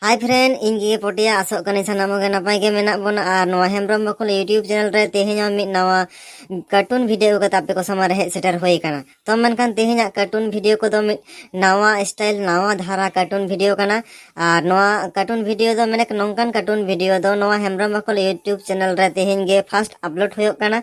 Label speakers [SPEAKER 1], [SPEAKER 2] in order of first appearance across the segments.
[SPEAKER 1] ᱦᱟᱭ friend ᱤᱧ ᱜᱮ ᱯᱚᱴᱤᱭᱟ ᱟᱥᱚᱜ ᱠᱟᱹᱱᱟᱹᱧ ᱥᱟᱱᱟᱢ ᱜᱮ ᱱᱟᱯᱟᱭ ᱜᱮ ᱢᱮᱱᱟᱜ ᱵᱚᱱᱟ ᱟᱨ ᱱᱚᱣᱟ ᱦᱮᱢᱵᱨᱚᱢ ᱵᱟᱠᱷᱩᱞ ᱤᱭᱩᱴᱤᱭᱩᱵᱽ ᱪᱮᱱᱮᱞ ᱨᱮ ᱛᱮᱦᱮᱧ ᱦᱚᱸ ᱢᱤᱫ ᱱᱟᱣᱟ ᱠᱟᱨᱴᱩᱱ ᱵᱷᱤᱰᱤᱭᱳ ᱠᱟᱛᱮ ᱟᱯᱮ ᱠᱚ ᱥᱟᱢᱟᱝ ᱨᱮ ᱦᱮᱡ ᱥᱮᱴᱮᱨ ᱦᱩᱭ ᱟᱠᱟᱱᱟ ᱛᱚ ᱢᱮᱱᱠᱷᱟᱱ ᱛᱮᱦᱮᱧᱟᱜ ᱠᱟᱨᱴᱩᱱ ᱵᱷᱤᱰᱤᱭᱳ ᱠᱚᱫᱚ ᱢᱤᱫ ᱱᱟᱣᱟ ᱥᱴᱟᱭᱤᱞ ᱱᱟᱣᱟ ᱫᱷᱟᱨᱟ ᱠᱟᱨᱴᱩᱱ ᱵᱷᱤᱰᱤᱭᱳ ᱠᱟᱱᱟ ᱟᱨ ᱱᱚᱣᱟ ᱠᱟᱨᱴᱩᱱ ᱵᱷᱤᱰᱤᱭᱳ ᱫᱚ ᱢᱮᱱᱮᱠ ᱱᱚᱝᱠᱟᱱ ᱠᱟᱨᱴᱩᱱ ᱵᱷᱤᱰᱤᱭᱳ ᱫᱚ ᱱᱚᱣᱟ ᱦᱮᱢᱵᱨᱚᱢ ᱵᱟᱠᱷᱩᱞ ᱤᱭᱩᱴᱤᱭᱩᱵᱽ ᱪᱮᱱᱮᱞ ᱨᱮ ᱛᱮᱦᱮᱧ ᱜᱮ ᱯᱷᱟᱥᱴ ᱟᱯᱞᱳᱰ ᱦᱩᱭᱩᱜ ᱠᱟᱱᱟ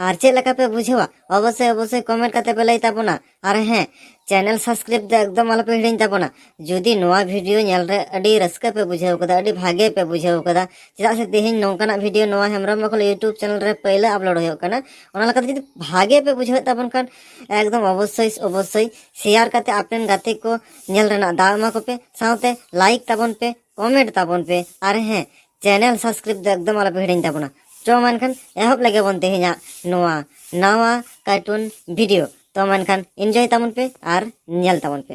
[SPEAKER 1] ᱟᱨ ᱪᱮᱫ ᱞᱮᱠᱟ ᱯᱮ ᱵᱩᱡᱷᱟᱹᱣᱟ ᱚᱵᱚᱥᱥᱳᱭ ᱚᱵᱚᱥᱥᱳᱭ ᱠᱚᱢᱮᱱᱴ ᱠᱟᱛᱮ ᱯᱮ ᱞᱟᱹᱭ ᱛᱟᱵᱚᱱᱟ ᱟᱨ ᱦᱮᱸ ᱪᱮᱱᱮᱞ ᱥᱟᱵᱥᱠᱨᱟᱭᱤᱵ ᱫᱚ ᱮᱠᱫᱚᱢ ᱟᱞᱚᱯᱮ ᱦᱤᱲᱤᱧ ᱛᱟᱵᱚᱱᱟ ᱡᱩᱫᱤ ᱱᱚᱣᱟ ᱵᱷᱤᱰᱤᱭᱳ ᱧᱮᱞ ᱨᱮ ᱟᱹᱰᱤ ᱨᱟᱹᱥᱠᱟᱹ ᱯᱮ ᱵᱩᱡᱷᱟᱹᱣ ᱠᱟᱫᱟ ᱟᱹᱰᱤ ᱵᱷᱟᱜᱮ ᱯᱮ ᱵᱩᱡᱷᱟᱹᱣ ᱠᱟᱫᱟ ᱪᱮᱫᱟᱜ ᱥᱮ ᱛᱮᱦᱮᱧ ᱱᱚᱝᱠᱟᱱᱟᱜ ᱵᱷᱤᱰᱤᱭᱳ ᱱᱚᱣᱟ ᱦᱮᱢᱵᱨᱚᱢ ᱵᱟᱠᱚᱞ ᱤᱭᱩᱴᱩᱵᱽ ᱪᱮᱱᱮᱞ ᱨᱮ ᱯᱟᱹᱭᱞᱟᱹ ᱟᱯᱞᱳᱰ ᱦᱩᱭᱩᱜ ᱠᱟᱱᱟ ᱚᱱᱟ ᱞᱮᱠᱟᱛᱮ ᱡᱩᱫᱤ ᱵᱷᱟᱜᱮ ᱯᱮ ᱵᱩᱡᱷᱟᱹᱣᱮᱫ ᱛᱟᱵᱚᱱ ᱠᱷᱟᱱ ᱮᱠᱫᱚᱢ ᱚᱵᱚᱥᱥᱳᱭ ᱚᱵᱚᱥᱥᱳᱭ ᱥᱮᱭᱟᱨ ᱠᱟᱛᱮ ᱟᱯᱮᱱ ᱜᱟᱛᱮ ᱠᱚ ᱧᱮᱞ ᱨᱮᱱᱟᱜ ᱫᱟᱣ ᱮᱢᱟ ᱠᱚᱯᱮ ᱥᱟᱶᱛᱮ ᱞᱟᱭᱤᱠ ᱛᱟᱵᱚᱱ ᱯᱮ ᱠᱚᱢᱮᱱᱴ ᱛᱟᱵᱚᱱ ᱯᱮ ᱟᱨ ᱦᱮᱸ ᱪᱮᱱᱮᱞ ᱥᱟᱵᱥᱠᱨᱟᱭᱤᱵ ᱫᱚ ᱮᱠᱫᱚᱢ ᱟᱞᱚᱯᱮ ᱦᱤᱲᱤᱧ ᱛᱟᱵᱚᱱᱟ ᱪᱚ ᱢᱮᱱᱠᱷᱟᱱ ᱮᱦᱚᱵ ᱞᱮᱜᱮ ᱵᱚᱱ ᱛᱮᱦᱮᱧᱟᱜ ᱱᱚᱣᱟ ᱱᱟᱣᱟ ᱠᱟᱨᱴᱩᱱ ᱵᱷᱤᱰᱤᱭᱳ ᱛᱚ ᱢᱮᱱᱠᱷᱟᱱ ᱤᱱᱡᱚᱭ ᱛᱟᱵᱚᱱ ᱯᱮ ᱟᱨ ᱧᱮᱞ ᱛᱟᱵᱚᱱ ᱯᱮ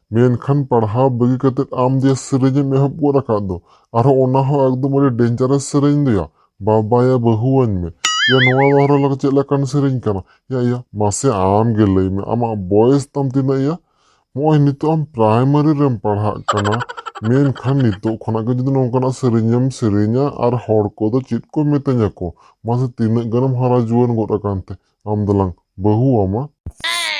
[SPEAKER 2] ᱢᱮᱱᱠᱷᱟᱱ ᱯᱟᱲᱦᱟᱣ ᱵᱟᱹᱜᱤ ᱠᱟᱛᱮ ᱟᱢ ᱡᱮ ᱥᱮᱨᱮᱧ ᱮᱢ ᱮᱦᱚᱵ ᱜᱚᱫ ᱟᱠᱟᱫ ᱫᱚ ᱟᱨᱦᱚᱸ ᱚᱱᱟ ᱦᱚᱸ ᱮᱠᱫᱚᱢ ᱟᱹᱰᱤ ᱰᱮᱧᱡᱟᱨᱮᱥ ᱥᱮᱨᱮᱧ ᱫᱚᱭᱟ ᱵᱟᱵᱟᱭᱟ ᱵᱟᱹᱦᱩᱣᱟᱹᱧ ᱢᱮ ᱭᱟ ᱱᱚᱣᱟ ᱫᱚ ᱟᱨᱦᱚᱸ ᱪᱮᱫ ᱞᱮᱠᱟᱱ ᱥᱮᱨᱮᱧ ᱠᱟᱱᱟ ᱭᱟ ᱭᱟ ᱢᱟᱥᱮ ᱟᱢ ᱜᱮ ᱞᱟᱹᱭ ᱢᱮ ᱟᱢᱟᱜ ᱵᱚᱭᱮᱥ ᱛᱟᱢ ᱛᱤᱱᱟᱹᱜ ᱭᱟ ᱱᱚᱜᱼᱚᱭ ᱱᱤᱛᱚᱜ ᱟᱢ ᱯᱨᱟᱭᱢᱟᱨᱤ ᱨᱮᱢ ᱯᱟᱲᱦᱟᱜ ᱠᱟᱱᱟ ᱢᱮᱱᱠᱷᱟᱱ ᱱᱤᱛᱚᱜ ᱠᱷᱚᱱᱟᱜ ᱜᱮ ᱡᱩᱫᱤ ᱱᱚᱝᱠᱟᱱᱟᱜ ᱥᱮᱨᱮᱧ ᱮᱢ ᱥᱮᱨᱮᱧᱟ ᱟᱨ ᱦᱚᱲ ᱠᱚᱫᱚ ᱪᱮᱫ ᱠᱚ ᱢᱮᱛᱟᱹᱧᱟ ᱠᱚ ᱢᱟᱥᱮ ᱛᱤᱱᱟᱹᱜ ᱜᱟᱱᱮᱢ ᱦᱟᱨᱟ ᱡᱩᱣᱟᱹᱱ ᱜᱚᱫ ᱟᱠᱟᱱ ᱛᱮ ᱟᱢ ᱫᱚᱞᱟᱝ ᱵᱟᱹᱦᱩ ᱟᱢᱟ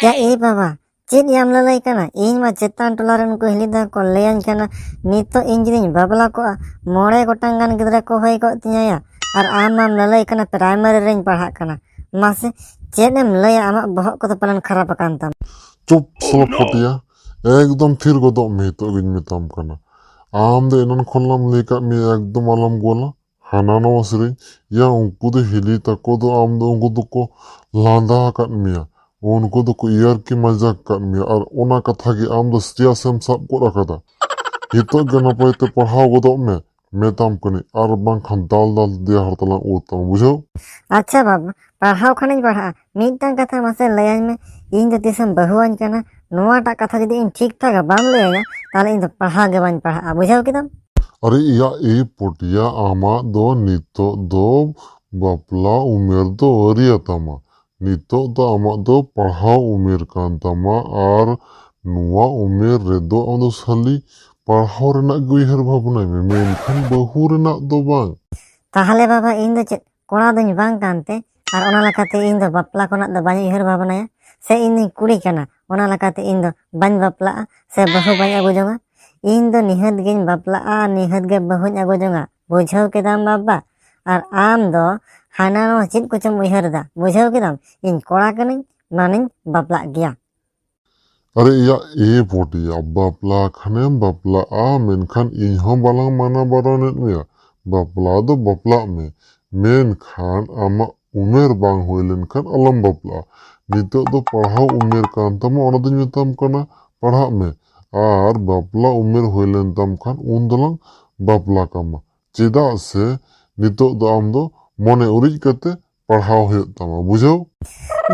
[SPEAKER 2] ᱭᱟ ᱮᱭ
[SPEAKER 1] ᱵᱟᱵᱟ ᱪᱮᱫ ᱭᱟᱢ ᱞᱟᱹᱞᱟᱹᱭ ᱠᱟᱱᱟ ᱤᱧ ᱢᱟ ᱪᱮᱛᱟᱱ ᱴᱚᱞᱟ ᱨᱮᱱ ᱠᱚ ᱦᱤᱞᱤ ᱫᱟ ᱠᱚ ᱞᱟᱹᱭᱟᱹᱧ ᱠᱟᱱᱟ ᱱᱤᱛᱚᱜ ᱤᱧ ᱡᱩᱫᱤᱧ ᱵᱟᱯᱞᱟ ᱠᱚᱜᱼᱟ ᱢᱚᱬᱮ ᱜᱚᱴᱟᱝ ᱜᱟᱱ ᱜᱤᱫᱽᱨᱟᱹ ᱠᱚ ᱦᱩᱭ ᱠᱚᱜ ᱛᱤᱧᱟᱹᱭᱟ ᱟᱨ ᱟᱢ ᱢᱟᱢ ᱞᱟᱹᱞᱟᱹᱭ ᱠᱟᱱᱟ ᱯᱨᱟᱭᱢᱟᱨᱤ ᱨᱮᱧ ᱯᱟᱲᱦᱟᱜ ᱠᱟᱱᱟ ᱢᱟᱥᱮ ᱪᱮᱫ ᱮᱢ ᱞᱟᱹᱭᱟ ᱟᱢᱟᱜ ᱵᱚᱦᱚᱜ ᱠᱚᱫᱚ ᱯᱟᱞᱮᱱ ᱠᱷᱟᱨᱟᱯ ᱟᱠᱟᱱ ᱛᱟᱢᱟ ᱪᱩᱯ ᱥᱚᱞᱚ
[SPEAKER 2] ᱯᱚᱴᱤᱭᱟ ᱮᱠᱫᱚᱢ ᱛᱷᱤᱨ ᱜᱚᱫᱚᱜ ᱢᱮ ᱱᱤᱛᱚᱜ ᱜᱤᱧ ᱢᱮᱛᱟᱢ ᱠᱟᱱᱟ ᱟᱢ ᱫᱚ ᱮᱱᱟᱱ ᱠᱷᱚᱱ ᱞᱟᱝ ᱞᱟᱹᱭ ᱠᱟᱜ ᱢᱮᱭᱟ ᱮᱠᱫᱚᱢ ᱟᱞᱚᱢ ᱜᱚᱞᱟ ᱦᱟᱱᱟ ᱱᱚᱣᱟ ᱥᱮᱨᱮᱧ ᱭᱟ ᱩᱱᱠᱩ ᱫᱚ ᱦᱤᱞᱤ ᱛᱟᱠᱚ ᱫᱚ ᱟᱢ ᱫᱚ ᱩᱱᱠᱩ ᱫᱚᱠᱚ ᱞᱟᱸᱫᱟ ᱟᱠᱟᱫ ᱢᱮᱭᱟ ᱩᱱᱠᱩ ᱫᱚᱠᱚ ᱤᱭᱟᱨᱠᱤ ᱢᱟᱡᱟᱠ ᱟᱠᱟᱫ ᱢᱮᱭᱟ ᱟᱨ ᱚᱱᱟ ᱠᱟᱛᱷᱟ ᱜᱮ ᱟᱢ ᱫᱚ ᱥᱤᱨᱤᱭᱟᱥ ᱮᱢ ᱥᱟᱵ ᱜᱚᱫ ᱟᱠᱟᱫᱟ ᱱᱤᱛᱚᱜ ᱜᱮ ᱱᱟᱯᱟᱭ ᱛᱮ ᱯᱟᱲᱦᱟᱣ ᱜᱚᱫᱚᱜ ᱢᱮ ᱢᱮᱛᱟᱢ ᱠᱟᱹᱱᱟᱹᱧ ᱟᱨ ᱵᱟᱝᱠᱷᱟᱱ ᱫᱟᱞ ᱫᱟᱞ ᱛᱮ ᱫᱮᱭᱟ ᱦᱟᱨᱛᱟᱞᱟᱝ ᱩᱨ ᱛᱟᱢᱟ ᱵᱩᱡᱷᱟᱹᱣ ᱟᱪᱪᱷᱟ ᱵᱟᱵᱟ ᱯᱟᱲᱦᱟᱣ ᱠᱷᱟᱱᱤᱧ
[SPEAKER 1] ᱯᱟᱲᱦᱟᱜᱼᱟ ᱢᱤᱫᱴᱟᱝ ᱠᱟᱛᱷᱟ ᱢᱟᱥᱮ ᱞᱟᱹᱭᱟᱹᱧ ᱢᱮ ᱤᱧ ᱫᱚ ᱛᱤᱥᱮᱢ ᱵᱟᱹᱦᱩᱣᱟᱹᱧ ᱠᱟᱱᱟ ᱱᱚᱣᱟᱴᱟᱜ ᱠᱟᱛᱷᱟ ᱡᱩᱫᱤ ᱤᱧ ᱴᱷᱤᱠ ᱴᱷᱟᱠ ᱵᱟᱢ ᱞᱟᱹᱭᱟᱹᱧᱟ ᱛᱟᱦᱚᱞᱮ ᱤᱧ ᱫᱚ ᱯᱟᱲᱦᱟᱣ ᱜᱮ ᱵᱟᱹᱧ ᱯᱟᱲᱦᱟᱜᱼᱟ ᱵᱩᱡᱷᱟᱹᱣ ᱠᱮᱫᱟᱢ ᱟᱨᱮ ᱤᱭᱟ
[SPEAKER 2] ᱮ ᱯᱚᱴᱤᱭᱟ ᱟᱢᱟᱜ ᱫᱚ ᱱᱤᱛᱚᱜ ᱫᱚ ᱵᱟᱯᱞᱟ ᱩᱢᱮᱨ ᱫᱚ ᱟᱹᱣᱨᱤᱭᱟᱛᱟᱢᱟ ᱱᱤᱛᱚᱜ ᱫᱚ ᱟᱢᱟᱜ ᱫᱚ ᱯᱟᱲᱦᱟᱣ ᱩᱢᱮᱨ ᱠᱟᱱ ᱛᱟᱢᱟ ᱟᱨ ᱱᱚᱣᱟ ᱩᱢᱮᱨ ᱨᱮᱫᱚ ᱟᱢ ᱫᱚ ᱥᱟᱞᱤ ᱯᱟᱲᱦᱟᱣ ᱨᱮᱱᱟᱜ ᱜᱮ ᱩᱭᱦᱟᱹᱨ ᱵᱷᱟᱵᱽᱱᱟᱭ ᱢᱮ ᱢᱮᱱᱠᱷᱟᱱ ᱵᱟᱹᱦᱩ ᱨᱮᱱᱟᱜ ᱫᱚ ᱵᱟᱝ ᱛᱟᱦᱚᱞᱮ ᱵᱟᱵᱟ
[SPEAKER 1] ᱤᱧ ᱫᱚ ᱪᱮᱫ ᱠᱚᱲᱟ ᱫᱚᱧ ᱵᱟᱝ ᱠᱟᱱᱛᱮ ᱟᱨ ᱚᱱᱟ ᱞᱮᱠᱟᱛᱮ ᱤᱧ ᱫᱚ ᱵᱟᱯᱞᱟ ᱠᱚᱨᱮᱱᱟᱜ ᱫᱚ ᱵᱟᱹᱧ ᱩᱭᱦᱟᱹᱨ ᱵᱷᱟᱵᱽᱱᱟᱭᱟ ᱥᱮ ᱤᱧ ᱫᱚᱧ ᱠᱩᱲᱤ ᱠᱟᱱᱟ ᱚᱱᱟ ᱞᱮᱠᱟᱛᱮ ᱤᱧ ᱫᱚ ᱵᱟᱹᱧ ᱵᱟᱯᱞᱟᱜᱼᱟ ᱥᱮ ᱵᱟᱹᱦᱩ ᱵᱟᱹᱧ ᱟᱹᱜᱩ ᱡᱚᱝᱟ ᱤᱧ ᱫᱚ ᱱᱤᱦᱟᱹᱛ ᱜᱤᱧ ᱵᱟᱯᱞᱟᱜᱼᱟ ᱟᱨ ᱱᱤᱦᱟᱹᱛ ᱜᱮ ᱵᱟᱹᱦᱩᱧ ᱟᱹᱜᱩ ᱡᱚᱝᱟ ᱵᱩᱡᱷᱟᱹᱣ ᱠᱮᱫᱟᱢ ᱵᱟᱵᱟ ᱟᱨ ᱟᱢ ᱫᱚ ᱦᱟᱱᱟ ᱱᱚᱣᱟ ᱪᱮᱫ ᱠᱚᱪᱚᱢ ᱩᱭᱦᱟᱹᱨ ᱮᱫᱟ ᱵᱩᱡᱷᱟᱹᱣ ᱠᱮᱫᱟᱢ ᱤᱧ ᱠᱚᱲᱟ ᱠᱟᱹᱱᱟᱹᱧ ᱢᱟᱱᱮᱧ ᱵᱟᱯᱞᱟᱜ ᱜᱮᱭᱟ
[SPEAKER 2] ᱟᱨᱮ ᱮᱭᱟ ᱮ ᱯᱚᱴᱤᱭᱟ ᱵᱟᱯᱞᱟ ᱠᱷᱟᱱᱮᱢ ᱵᱟᱯᱞᱟᱜᱼᱟ ᱢᱮᱱᱠᱷᱟᱱ ᱤᱧ ᱦᱚᱸ ᱵᱟᱞᱟᱝ ᱢᱟᱱᱟ ᱵᱟᱨᱚᱱᱮᱫ ᱢᱮᱭᱟ ᱵᱟᱯᱞᱟ ᱫᱚ ᱵᱟᱯᱞᱟᱜ ᱢᱮ ᱢᱮᱱᱠᱷᱟᱱ ᱟᱢᱟᱜ ᱩᱢᱮᱨ ᱵᱟᱝ ᱦᱩᱭ ᱞᱮᱱᱠᱷᱟᱱ ᱟᱞᱚᱢ ᱵᱟᱯᱞᱟᱜᱼᱟ ᱱᱤᱛᱚᱜ ᱫᱚ ᱯᱟᱲᱦᱟᱣ ᱩᱢᱮᱨ ᱠᱟᱱ ᱛᱟᱢᱟ ᱚᱱᱟ ᱫᱚᱧ ᱢᱮᱛᱟᱢ ᱠᱟᱱᱟ ᱯᱟᱲᱦᱟᱜ ᱢᱮ ᱟᱨ ᱵᱟᱯᱞᱟ ᱩᱢᱮᱨ ᱦᱩᱭ ᱞᱮᱱ ᱛᱟᱢ ᱠᱷᱟᱱ ᱩᱱ ᱫᱚᱞᱟᱝ ᱵᱟᱯᱞᱟ ᱠᱟᱢᱟ ᱪᱮᱫᱟᱜ ᱥᱮ ᱱᱤᱛᱚᱜ ᱫᱚ ᱟᱢ ᱫᱚ ᱢᱚᱱᱮ ᱩᱨᱤᱡ ᱠᱟᱛᱮ ᱯᱟᱲᱦᱟᱣ ᱦᱩᱭᱩᱜ ᱛᱟᱢᱟ ᱵᱩᱡᱷᱟᱹᱣ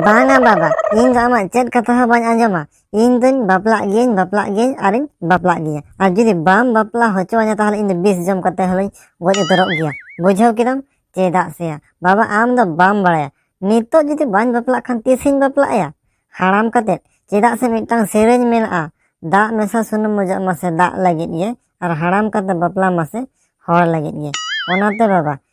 [SPEAKER 2] ᱵᱟᱝᱟ
[SPEAKER 1] ᱵᱟᱵᱟ ᱤᱧ ᱫᱚ ᱟᱢᱟᱜ ᱪᱮᱫ ᱠᱟᱛᱷᱟ ᱦᱚᱸ ᱵᱟᱹᱧ ᱟᱸᱡᱚᱢᱟ ᱤᱧ ᱫᱚᱧ ᱵᱟᱯᱞᱟᱜ ᱜᱤᱭᱟᱹᱧ ᱵᱟᱯᱞᱟᱜ ᱜᱤᱭᱟᱹᱧ ᱟᱨᱤᱧ ᱵᱟᱯᱞᱟᱜ ᱜᱮᱭᱟ ᱟᱨ ᱡᱩᱫᱤ ᱵᱟᱢ ᱵᱟᱯᱞᱟ ᱦᱚᱪᱚᱣᱟᱹᱧᱟ ᱛᱟᱦᱚᱞᱮ ᱤᱧ ᱫᱚ ᱵᱤᱥ ᱡᱚᱢ ᱠᱟᱛᱮ ᱦᱚᱞᱤᱧ ᱜᱚᱡ ᱩᱛᱟᱹᱨᱚᱜ ᱜᱮᱭᱟ ᱵᱩᱡᱷᱟᱹᱣ ᱠᱮᱫᱟᱢ ᱪᱮᱫᱟᱜ ᱥᱮ ᱵᱟᱵᱟ ᱟᱢ ᱫᱚ ᱵᱟᱢ ᱵᱟᱲᱟᱭᱟ ᱱᱤᱛᱚᱜ ᱡᱩᱫᱤ ᱵᱟᱹᱧ ᱵᱟᱯᱞᱟᱜ ᱠᱷᱟᱱ ᱛᱤᱥᱤᱧ ᱵᱟᱯᱞᱟᱜᱼᱟ ᱦᱟᱲᱟᱢ ᱠᱟᱛᱮ ᱪᱮᱫᱟᱜ ᱥᱮ ᱢᱤᱫᱴᱟᱝ ᱥᱮᱨᱮᱧ ᱢᱮᱱᱟᱜᱼᱟ ᱫᱟᱜ ᱢᱮᱥᱟ ᱥᱩᱱᱩᱢ ᱢᱚᱡᱚᱜ ᱢᱟᱥᱮ ᱫᱟᱜ ᱞᱟᱹᱜᱤᱫ ᱜᱮ ᱟᱨ ᱦᱟᱲᱟᱢ ᱠᱟᱛᱮ ᱵᱟᱯᱞᱟ ᱢᱟᱥᱮ ᱦᱚᱲ ᱞᱟᱹᱜᱤᱫ ᱜᱮ ᱚᱱᱟᱛᱮ ᱵᱟᱵᱟ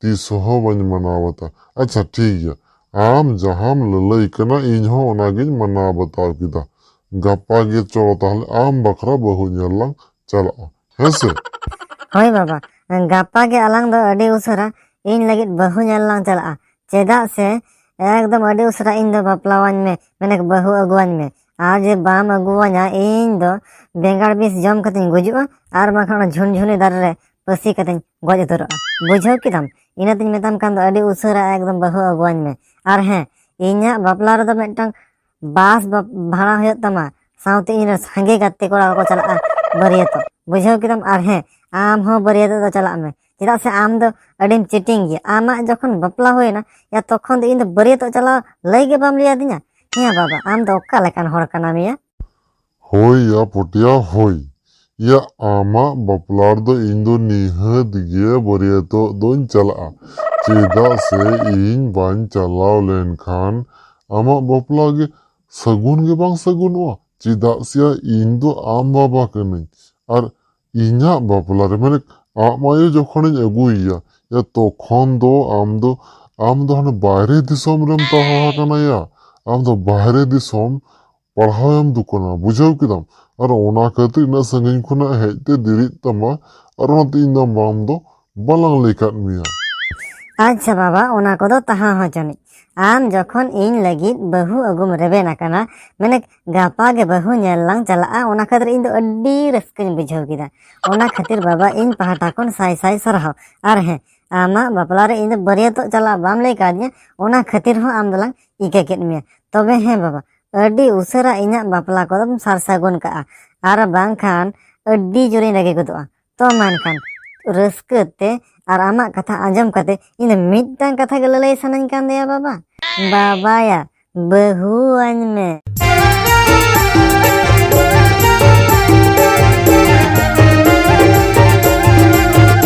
[SPEAKER 2] ᱛᱤᱥ ᱦᱚᱸ ᱵᱟᱹᱧ ᱢᱟᱱᱟᱣ ᱵᱟᱛᱟᱣ᱾ ᱟᱪᱪᱷᱟ ᱴᱷᱤᱠ ᱜᱮᱭᱟ᱾ ᱟᱢ ᱡᱟᱦᱟᱸᱢ ᱞᱟᱹᱞᱟᱹᱭ ᱠᱟᱱᱟ ᱤᱧ ᱦᱚᱸ ᱚᱱᱟ ᱜᱮᱧ ᱢᱟᱱᱟᱣ ᱵᱟᱛᱟᱣ ᱠᱮᱫᱟ᱾ ᱜᱟᱯᱟ ᱜᱮ ᱪᱚᱞᱚ ᱛᱟᱦᱞᱮ ᱟᱢ ᱵᱟᱠᱷᱨᱟ ᱵᱟᱹᱦᱩ ᱧᱮᱞ ᱞᱟᱝ ᱪᱟᱞᱟᱜᱼᱟ᱾ ᱦᱮᱸ ᱥᱮ? ᱦᱳᱭ
[SPEAKER 1] ᱵᱟᱵᱟ᱾ ᱜᱟᱯᱟ ᱜᱮ ᱟᱞᱟᱝ ᱫᱚ ᱟᱹᱰᱤ ᱩᱥᱟᱹᱨᱟ ᱤᱧ ᱞᱟᱹᱜᱤᱫ ᱵᱟᱹᱦᱩ ᱧᱮᱞ ᱞᱟᱝ ᱪᱟᱞᱟᱜᱼᱟ᱾ ᱪᱮᱫᱟᱜ ᱥᱮ ᱮᱠᱫᱚᱢ ᱟᱹᱰᱤ ᱩᱥᱟᱹᱨᱟ ᱤᱧ ᱫᱚ ᱵᱟᱯᱞᱟᱣᱟᱹᱧ ᱢᱮ ᱢᱟᱱᱮ ᱵᱟᱹᱦᱩ ᱟᱹᱜᱩᱣᱟᱹᱧ ᱢᱮ᱾ ᱟᱨ ᱡᱩᱫᱤ ᱵᱟᱢ ᱟᱹᱜᱩᱣᱟᱹᱧᱟ ᱤᱧ ᱫᱚ ᱵᱮᱸᱜᱟᱲ ᱵᱤᱥ ᱡᱚᱢ ᱠᱟᱛᱮᱧ ᱜᱩᱡᱩᱜᱼᱟ ᱟᱨ ᱵᱟᱝᱠᱷᱟᱱ ᱚᱱᱟ ᱡᱷᱩᱱᱡᱷᱩᱱᱤ ᱫᱟᱨᱮ ᱨᱮ ᱯᱟᱹᱥᱤ ᱠᱟᱛᱮᱧ ᱜᱚᱡ ᱩᱛᱟᱹᱨᱚᱜᱼᱟ ᱵᱩᱡᱷᱟᱹᱣ ᱠᱮᱫᱟᱢ ᱤᱱᱟᱹ ᱛᱮᱧ ᱢᱮᱛᱟᱢ ᱠᱟᱱ ᱫᱚ ᱟᱹᱰᱤ ᱩᱥᱟᱹᱨᱟ ᱮᱠᱫᱚᱢ ᱵᱟᱹᱦᱩ ᱟᱹᱜᱩᱣᱟᱹᱧ ᱢᱮ ᱟᱨ ᱦᱮᱸ ᱤᱧᱟᱹᱜ ᱵᱟᱯᱞᱟ ᱨᱮᱫᱚ ᱢᱤᱫᱴᱟᱝ ᱵᱟᱥ ᱵᱷᱟᱲᱟ ᱦᱩᱭᱩᱜ ᱛᱟᱢᱟ ᱥᱟᱶᱛᱮ ᱤᱧ ᱨᱮᱱ ᱥᱟᱸᱜᱮ ᱜᱟᱛᱮ ᱠᱚᱲᱟ ᱠᱚ ᱪᱟᱞᱟᱜᱼᱟ ᱵᱟᱹᱨᱭᱟᱹᱛᱚᱜ ᱵᱩᱡᱷᱟᱹᱣ ᱠᱮᱫᱟᱢ ᱟᱨ ᱦᱮᱸ ᱟᱢ ᱦᱚᱸ ᱵᱟᱹᱨᱭᱟᱹᱛᱚᱜ ᱫᱚ ᱪᱟᱞᱟᱜ ᱢᱮ ᱪᱮᱫᱟᱜ ᱥᱮ ᱟᱢ ᱫᱚ ᱟᱹᱰᱤᱢ ᱪᱤᱴᱤᱝ ᱜᱮᱭᱟ ᱟᱢᱟᱜ ᱡᱚᱠᱷᱚᱱ ᱵᱟᱯᱞᱟ ᱦᱩᱭᱱᱟ ᱭᱟ ᱛᱚᱠᱷᱚᱱ ᱫᱚ ᱤᱧ ᱫᱚ ᱵᱟᱹᱨᱭᱟᱹᱛᱚᱜ ᱪᱟᱞᱟᱣ ᱞᱟᱹᱭ ᱜᱮ ᱵᱟᱢ ᱞᱟᱹᱭ ᱟᱹᱫᱤᱧᱟ ᱦᱮᱸ ᱵᱟᱵᱟ ᱟᱢ ᱫᱚ ᱚᱠᱟ ᱞᱮᱠᱟᱱ ᱦᱚᱲ ᱠᱟᱱᱟᱢ ᱭᱟ ᱦᱳᱭ
[SPEAKER 2] ᱭᱟ ᱯᱚᱴᱭᱟ ᱦᱳᱭ᱾ ᱭᱟ ᱟᱢᱟᱜ ᱵᱟᱯᱞᱟ ᱨᱮᱫᱚ ᱤᱧ ᱫᱚ ᱱᱤᱦᱟᱹᱛ ᱜᱮ ᱵᱟᱹᱨᱭᱟᱹᱛᱚᱜ ᱫᱚᱧ ᱪᱟᱞᱟᱜᱼᱟ᱾ ᱪᱮᱫᱟᱜ ᱥᱮ ᱤᱧ ᱵᱟᱹᱧ ᱪᱟᱞᱟᱣ ᱞᱮᱱ ᱠᱷᱟᱱ ᱟᱢᱟᱜ ᱵᱟᱯᱞᱟ ᱜᱮ ᱥᱟᱹᱜᱩᱱ ᱜᱮ ᱵᱟᱝ ᱥᱟᱹᱜᱩᱱᱚᱜᱼᱟ᱾ ᱪᱮᱫᱟᱜ ᱥᱮᱭᱟ ᱤᱧ ᱫᱚ ᱟᱢ ᱵᱟᱵᱟ ᱠᱟᱹᱱᱟᱹᱧ ᱟᱨ ᱤᱧᱟᱜ ᱵᱟᱯᱞᱟ ᱨᱮ ᱢᱟᱱᱮ ᱟᱢᱟᱜ ᱟᱭᱳ ᱡᱚᱠᱷᱚᱱᱤᱧ ᱟᱹᱜᱩᱭᱮᱭᱟ ᱭᱟ ᱛᱚᱠᱷᱚᱱ ᱫᱚ ᱟᱢ ᱫᱚ ᱟᱢ ᱫᱚ ᱦᱟᱱᱮ ᱵᱟᱭᱨᱮ ᱫᱤᱥᱚᱢ ᱨᱮᱢ ᱛᱟᱦᱮᱸ ᱟᱠᱟᱱᱟ ᱭᱟ ᱟᱢ ᱫᱚ ᱵᱟᱦᱨᱮ ᱫᱤᱥᱚᱢ ᱯᱟᱲᱦᱟᱣ ᱮᱢ ᱫᱩᱠᱟᱱᱟ ᱵᱩᱡᱷᱟᱹᱣ ᱠᱮᱫᱟᱢ ᱟᱨ ᱚᱱᱟ ᱠᱷᱟᱹᱛᱤᱨ ᱤᱱᱟᱹᱜ ᱥᱟᱺᱜᱤᱧ ᱠᱷᱚᱱᱟᱜ ᱦᱮᱡ ᱛᱮ ᱫᱮᱨᱤᱜ ᱛᱟᱢᱟ ᱟᱨ ᱚᱱᱟᱛᱮ ᱤᱧ ᱫᱚ ᱟᱢ ᱫᱚ ᱵᱟᱞᱟᱝ ᱞᱟᱹᱭ ᱠᱟᱫ ᱢᱮᱭᱟ ᱟᱪᱪᱷᱟ
[SPEAKER 1] ᱵᱟᱵᱟ ᱚᱱᱟ ᱠᱚᱫᱚ ᱛᱟᱦᱟᱸ ᱦᱚᱸ ᱡᱟᱹᱱᱤᱡ ᱟᱢ ᱡᱚᱠᱷᱚᱱ ᱤᱧ ᱞᱟᱹᱜᱤᱫ ᱵᱟᱹᱦᱩ ᱟᱹᱜᱩᱢ ᱨᱮᱵᱮᱱ ᱟᱠᱟᱱᱟ ᱢᱟᱱᱮ ᱜᱟᱯᱟ ᱜᱮ ᱵᱟᱹᱦᱩ ᱧᱮᱞ ᱞᱟᱝ ᱪᱟᱞᱟᱜᱼᱟ ᱚᱱᱟ ᱠᱷᱟᱹᱛᱤᱨ ᱤᱧ ᱫᱚ ᱟᱹᱰᱤ ᱨᱟᱹᱥᱠᱟᱹᱧ ᱵᱩᱡᱷᱟᱹᱣ ᱠᱮᱫᱟ ᱚᱱᱟ ᱠᱷᱟᱹᱛᱤᱨ ᱵᱟᱵᱟ ᱤᱧ ᱯᱟᱦᱴᱟ ᱠᱷᱚᱱ ᱥᱟᱭ ᱥᱟᱭ ᱥᱟᱨᱦᱟᱣ ᱟᱨ ᱦᱮᱸ ᱟᱢᱟᱜ ᱵᱟᱯᱞᱟ ᱨᱮ ᱤᱧ ᱫᱚ ᱵᱟᱹᱨᱭᱟᱹᱛᱚᱜ ᱪᱟᱞᱟᱜ ᱵᱟᱢ ᱞᱟᱹᱭ ᱠᱟᱣᱫᱤᱧᱟ ᱚᱱᱟ ᱠᱷᱟᱹᱛᱤᱨ ᱦᱚᱸ ᱟᱢ ᱫᱚᱞᱟᱝ ᱤᱠᱟᱹ ᱠᱮᱫ ᱢᱮᱭᱟ ᱛᱚᱵᱮ ᱦᱮᱸ ᱵᱟᱵᱟ ᱟᱹᱰᱤ ᱩᱥᱟᱹᱨᱟ ᱤᱧᱟᱹᱜ ᱵᱟᱯᱞᱟ ᱠᱚᱫᱚᱢ ᱥᱟᱨ ᱥᱟᱹᱜᱩᱱ ᱠᱟᱜᱼᱟ ᱟᱨ ᱵᱟᱝᱠᱷᱟᱱ ᱟᱹᱰᱤ ᱡᱳᱨᱤᱧ ᱨᱟᱹᱜᱤ ᱜᱚᱫᱚᱜᱼᱟ ᱛᱚ ᱢᱮᱱᱠᱷᱟᱱ ᱨᱟᱹᱥᱠᱟᱹ ᱛᱮ ᱟᱨ ᱟᱢᱟᱜ ᱠᱟᱛᱷᱟ ᱟᱸᱡᱚᱢ ᱠᱟᱛᱮ ᱤᱧ ᱫᱚ ᱢᱤᱫᱴᱟᱝ ᱠᱟᱛᱷᱟ ᱜᱮ ᱞᱟᱹᱞᱟᱹᱭ ᱥᱟᱱᱟᱧ ᱠᱟᱱ ᱫᱚᱭᱟ ᱵᱟᱵᱟ ᱵᱟᱵᱟᱭᱟ ᱵᱟᱹᱦᱩ ᱟᱹᱧ ᱢᱮ